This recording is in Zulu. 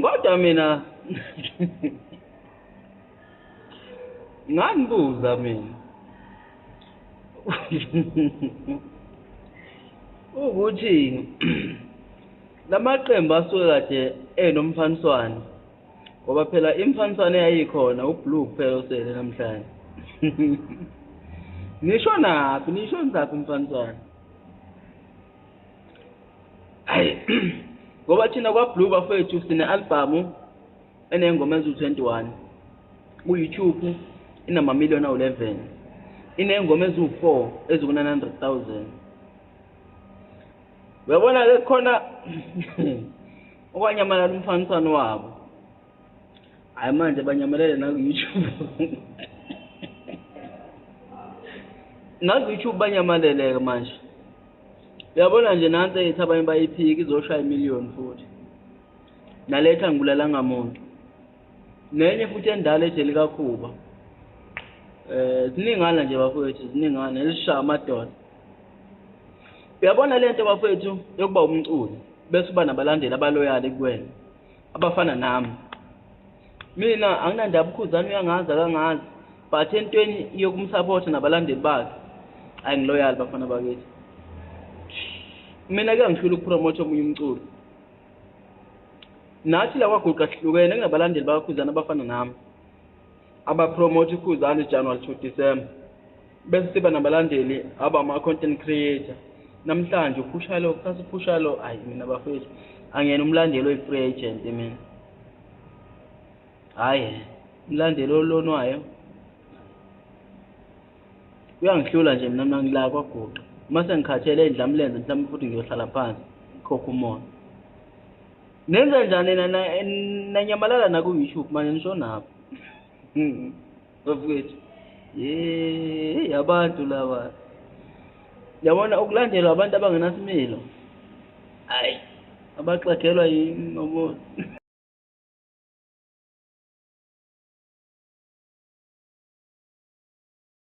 Kodwa mina ngangibuza mina ukuthi lamaqembu asuke kade enomfaniswano ngoba phela imfaniswano eyayikhona ublue kuphela osele namhlanje nisho naphi nisho nizaphi umfaniswano ayi ngoba thina kwablue bafethu sine-albhamu eney'ngoma eziwu-21 ku-youtube inamamiliyoni awu-11 iney'ngoma eziwu-4 eziku-900,000 uyabona-ke khona okwanyamalala umfaniswano wabo hayi manje banyamalele naku-youtube naku-youtube banyamaleleke manje uyabona nje nansi ethi abanye bayiphiki izoshaya imiliyoni futhi naletha ngibulalanga muntu nenye futhi endala eje likakhuba um eh, ziningana nje bafowethu ziningana ezishaya amadoda uyabona le nto bafowethu yokuba umculi bese uba nabalandeli abaloyali kuwena abafana nami mina anginandaba ukhuzani uyangazi akangazi but entweni yokumsapotha nabalandeli bakhe ayi ngiloyali bafana bakithi mina kuyangihlula ukupromotha omunye umculo nathi la kwaguqa sihlukene kunabalandeli bakakhuzana abafana nami abapromotha ikhuzana ijanuwari to december bese siba nabalandeli abama-content creator namhlanje uphusha lo kusasa uphusha lo ayi mina bafethu angiyena umlandeli oyi-free agent mina hhayi umlandeli olonwayo Kuyangihlula nje mina mina ngila kwaguqa. Uma sengikhathele idlamlenze mhlawumbe futhi ngiyohlala phansi khokha umoya. Nenza njani nina nanyamalala naku YouTube manje nishonaphi? Bafowethu. Yey abantu laba. Yabona ukulandelwa abantu abangenasimilo. Hayi abaxegelwa yini ngoba